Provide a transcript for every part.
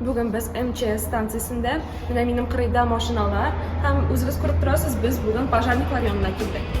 Бүген без МЧС станциясендә, менә минем кырыйда машиналар, һәм үзегез күреп торасыз, без бүген пожарниклар янына килдек.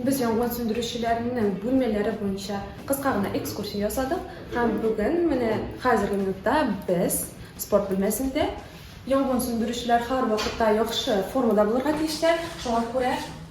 Без янгын сүндерүчеләрнең бүлмәләре буенча кыска гына экскурсия ясадык. Һәм бүген менә хәзерге минутта без спорт бүлмәсендә янгын сүндерүчеләр һәрвакытта яхшы формада булырга тиешләр. Шуңа күрә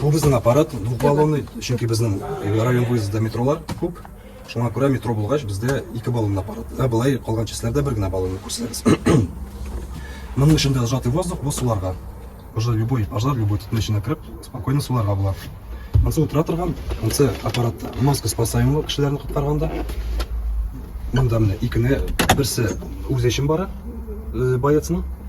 Бу безнең аппарат двухбаллонный, чөнки безнең район выездда метролар күп. Шуңа күрә метро булгач, бездә ике баллонный аппарат. Ә былай калган частьләрдә бер генә баллонный күрсәгез. Моның эчендә сжатый воздух, бу суларга. Уже любой пожар, любой төтен эченә кереп, спокойно суларга була. Монсы утыра торган, монсы аппарат маска спасаемый кешеләрне коткарганда. Монда менә икене, берсе үзе өчен бара, боецның.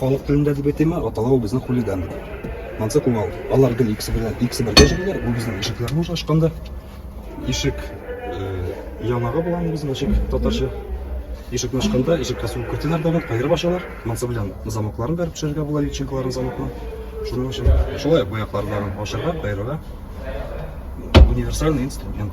Халык телендә дип әйтәме, аталау безнең хулиган. Монсы куал. Алар гел икесе белән икесе бергә җөриләр. Бу безнең ишекләрне уже ачканда. Ишек э, яңагы булган безнең ишек татарча. Ишекне ачканда ишеккә сугып кертәләр дә кайырып ачалар. Монсы белән замокларын бәреп төшерергә була личинкаларын замокны. Шуның өчен шулай бу яклардан ачарга, кайырырга универсальный инструмент.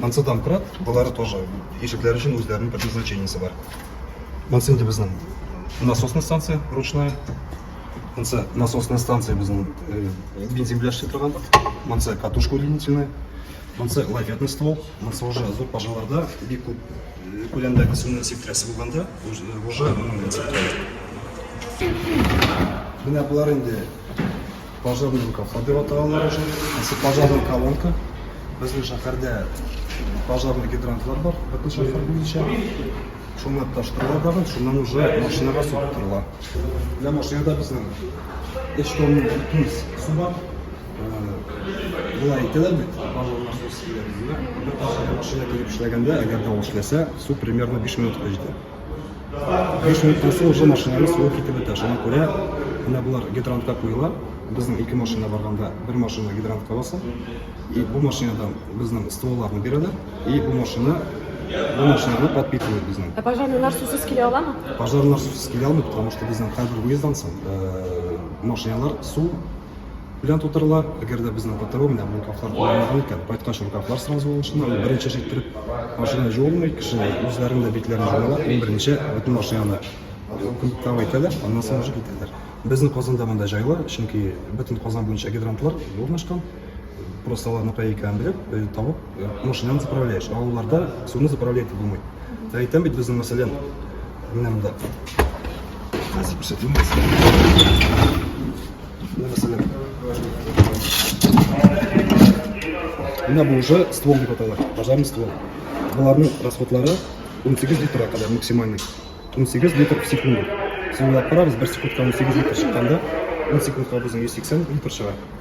Монсы домкрат, болары тоже. Ишекләр өчен үзләренең предназначениесе бар. Монсы инде безнең насосный станция ручная. Монсы насосная станция безнең э, бензин белән эшли торган. Монсы катушка удлинительная. Монсы лафетный ствол. Монсы уже зур пожаларда бик күп э, күләмдәге суны сиптерәсе булганда уже моның белән сиптерәләр. Менә болар инде Пожарный кафа дип атап алар уже. Әсе пожарный колонка. Безнең шәһәрдә пожарный гидрантлар бар, бөтен шәһәр буенча. Шуны таштыралар да, шуннан уже машинага су тутырыла. Менә машинада безнең эш тонна бөтен су бар. Болай итәләр бит, пожарный су сибәргә. Бер машина килеп эшләгәндә, әгәр дә ул эшләсә, су примерно 5 минутка җитә. Биш минуттан соң уже машинаны суы китеп бетә. Шуңа күрә менә болар гидрантка куела. Безнең ике машина барганда бер машина гидрантка баса. И бу машинадан безнең стволларны бирәләр. И бу машина бу машинаны подпитывает безнең. Ә пожарныйлар сусыз килә аламы? Пожарныйлар сусыз килә алмый, потому что безнең хәзер уездансың. Э, машиналар су Белән тутырылар. Әгәр дә безнең ПТО менә бу каплар кулланмаган икән, кайткач ул каплар сразу алышына, ул беренче җиттереп машина җуылмый, кеше үзләрен дә битләрен җуалар, иң беренче бөтен машинаны кубкага итәләр, аннан соң уже китәләр. Безнең Казанда монда җайлы, чөнки бөтен Казан буенча гидрантлар урнашкан, просто аларны кая икәнен белеп, табып, машинаны заправляешь, авылларда суны заправлять булмый. Ә әйтәм бит безнең мәсәлән, менә монда. Хәзер күрсәтим. Менә мәсәлән. Менә бу уже ствол дип атала, пожарный ствол. Аларның расходлары 18 литрга кадәр максимальный. 18 литр в секунду. Сыйлап барабыз, бер секундка 18 литр чыкканда, 10 секундка безнең 180 литр чыга.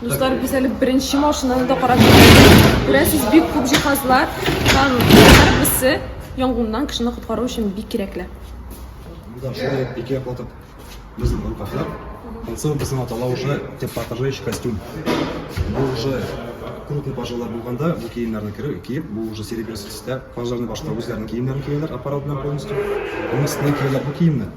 Дуслар, без әле беренче машинаны да карап Күрәсез, бик күп җиһазлар һәм һәрберсе янгыннан кешене коткару өчен бик кирәкле. Шулай ике яклатып безнең группаклар. Концерт безнең атала уже теплопожающий костюм. Бу уже крупный пожарда булганда бу киемнәрне киеп, бу уже серебряный төстә пожарный башта үзләренең киемнәрен кияләр, аппарат белән полностью. Монысына кияләр бу киемне.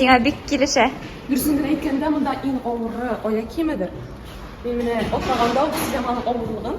Сиңа бик килешә. Дөресен генә әйткәндә, монда иң авыры аяк киемедер. Мин менә атлаганда ук сизәм аның авырлыгын.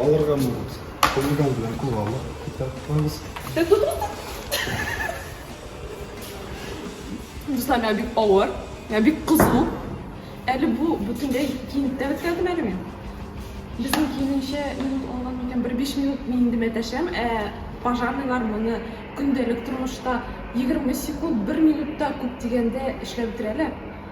Алырга мөмкин. Кулдан белән кулга алып китә куябыз. Дуслар, миңа бик авыр. Миңа бик кызу. Әле бу бүтәндәй киенеп тә беткәнмен әле мин. Безнең киененчә минут алган микән? Бер биш минут мин инде мәтәшәм, ә пожарныйлар моны көндәлек тормышта 20 секунд, бер минутта күп дигәндә эшләп бетерәләр.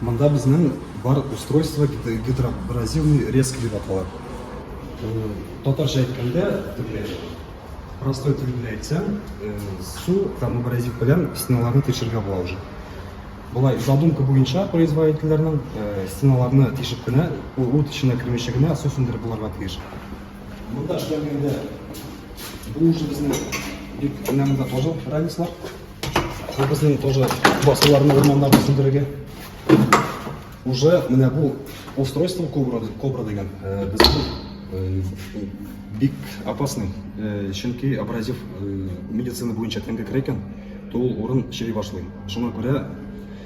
Монда безнең бар устройство гидроабразивный резк дип атала. Татарча әйткәндә, теге простой тел белән әйтсәм, су һәм абразив белән стеналарны тишергә була уже. Болай задумка буенча производительләрнең стеналарны тишеп кенә, ут эченә кермичә генә су сүндереп булырга тиеш. Монда эшләнгәндә бу уже безнең бик менә монда тоже ранецлар. Бу безнең тоже басуларны, урманнарны сүндерергә. Уже менә бу устройство кобра, кобра дигән э, безнең э, бик опасный, э, чөнки абразив медицина буенча тәңгә керә икән, то ул урын чери башлый. Шуңа күрә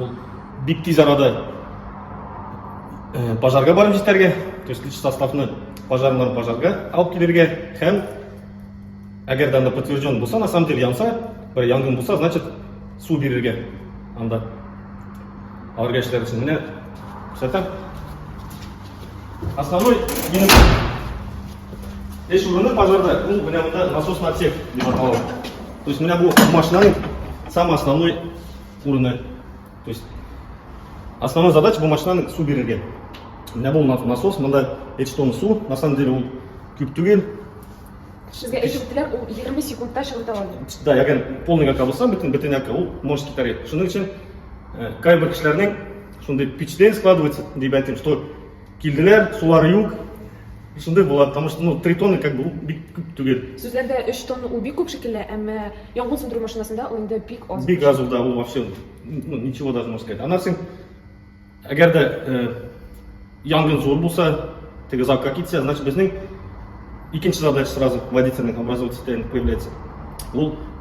Ул бик тиз арада пожарга барып җитәргә, то есть лич составны пожарнан пожарга алып килергә һәм әгәр дә анда подтвержден булса, на самом деле янса, бер янгын булса, значит су бирергә анда. Аларга эшләр өчен менә күрсәтәм. Основной минем эш урыны пожарда, ул менә монда насосный отсек дип атала. То есть менә бу машинаның самый основной урыны. То есть основная задача бу машинаның су бирергә. Менә бу насос, монда 3 тонна су, на самом деле ул күп түгел. Сезгә әйтеп үттеләр, ул 20 секундта чыгыта ала. Да, ягән полный яка булса, бөтен бөтен яка ул может китәргә. Шуның өчен э, кайбер кешеләрнең шундый пичден складывается, дип әйтим, что Килделәр, сулары юк. Шундый була, потому что ну, 3 тонны как бы ул бик күп түгел. Сүзләрдә 3 тонна ул бик күп шикелле, әмма янгын сүндерү машинасында ул инде бик аз. Бик аз ул да ул вообще ну, ничего даже можно сказать. Аннан соң әгәр дә э, янгын зур булса, теге закка китсә, значит безнең икенче задача сразу водительный образовательный появляется. Ул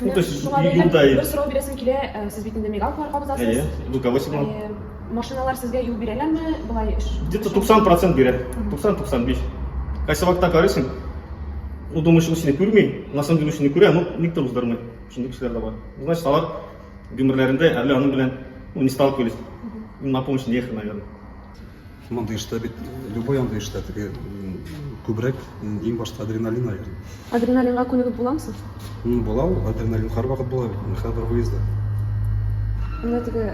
Ну, то есть, шуңа бәйле бер сорау бирәсем килә, э, сез бит инде мигалка бар кабызасыз. Әйе, ну, кого сигнал? Э, машиналар сезгә юл бирәләрме? Болай Где-то 90% бирә. 90-95. Кайсы вакытта карыйсың? Ну, думаешь, ул сине күрми, на самом деле сине күрә, но никто уздырмый. Шундый кешеләр дә бар. Значит, алар гомерләрендә әле аның белән, ну, не сталкивались. Им на помощь не ехали, наверное. Мондый эштә бит, любой андый эштә теге күбрәк иң башта адреналин алган. Адреналинга күнегеп буламы соң? Ну, була ул, адреналин һәрвакыт була бит, һәрбер выезда. Менә теге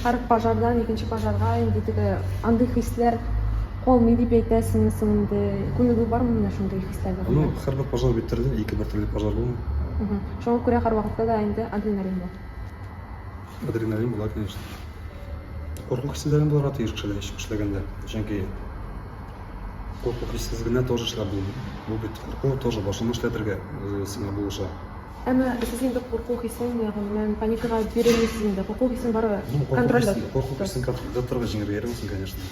һәр пожардан икенче пожарга инде теге андый хисләр калмый дип әйтәсеңме соң инде? Күнегү бармы менә шундый хисләргә? Ну, һәрбер пожар бит төрле, ике бер төрле пожар булмый. Шуңа күрә һәрвакытта да инде адреналин бар. Адреналин була, конечно. Курку хисләрен булырга тиеш кешеләр ничек эшләгәндә. Чөнки курку хиссез генә тоже эшләп булмый. Бу бит курку тоже башыңны эшләтергә э, сиңа булыша. Әмма сез инде курку хисен ягыннан паникага бирелмисез инде. Курку хисен бары контрольдә. Курку хисен контрольдә торырга җиңергә ярыйсың, конечно.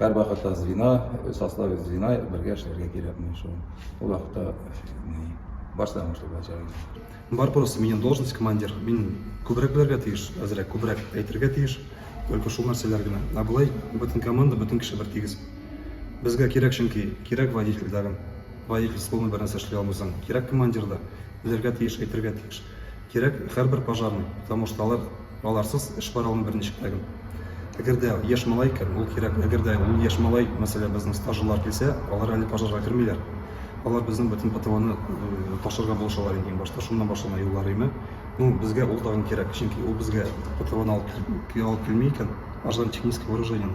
Һәрвакытта звена, составе звена бергә эшләргә кирәк менә шул. Ул вакытта баштан башлап начальник. Бар просто минем должность командир. Мин күбрәк белергә тиеш, әзрәк күбрәк әйтергә тиеш. Только шул нәрсәләр генә. Ә болай бөтен команда, бөтен кеше бер тигез. Безгә кирәк чөнки, кирәк водитель дәгем. Водитель словно бер нәрсә эшли алмыйсың. Кирәк командир да. Белергә тиеш, әйтергә тиеш. Кирәк хәрбер пожарный, потому что алар аларсыз эш бара алмый берничек тә гел. Әгәр дә яшь малай икән, ул кирәк, әгәр дә ул яшь малай, мәсәлән, безнең стажерлар килсә, алар әле пожарга кермиләр. Алар безнең бөтен ПТОны ташырга булышалар инде иң башта, шуннан башлана юллар име. Ну, безгә ул тагын кирәк, чөнки ул безгә ПТОны алып килми икән, аждан технический вооружениене.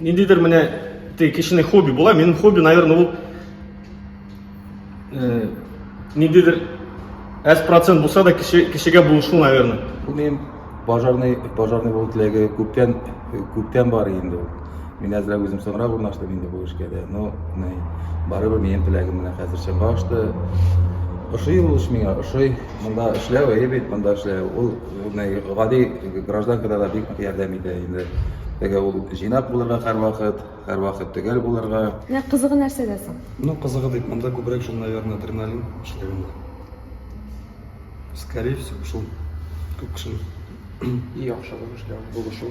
ниндидер менә теге кешенең хобби була минем хобби наверное ул э, ниндидер әз процент булса да кеше кешегә булышу наверное бу минем пожарный пожарный булу теләге күптән күптән бар инде ул мин әзрәк үзем соңрак урнаштым инде бу эшкә дә но барыбер минем теләгем менә хәзерчә башта ошый ул эш миңа ошый монда эшләү әйе бит монда эшләү ул гади гражданкада да бик нык ярдәм итә инде. Теге ул җыйнак булырга һәрвакыт, һәрвакыт төгәл булырга. Менә кызыгы нәрсәдә соң? Ну, кызыгы дип, монда күбрәк шул, наверное, адреналин эшләгәндә. Скорее всего, шул күп кешенең. И яхшы булышлар, булышу.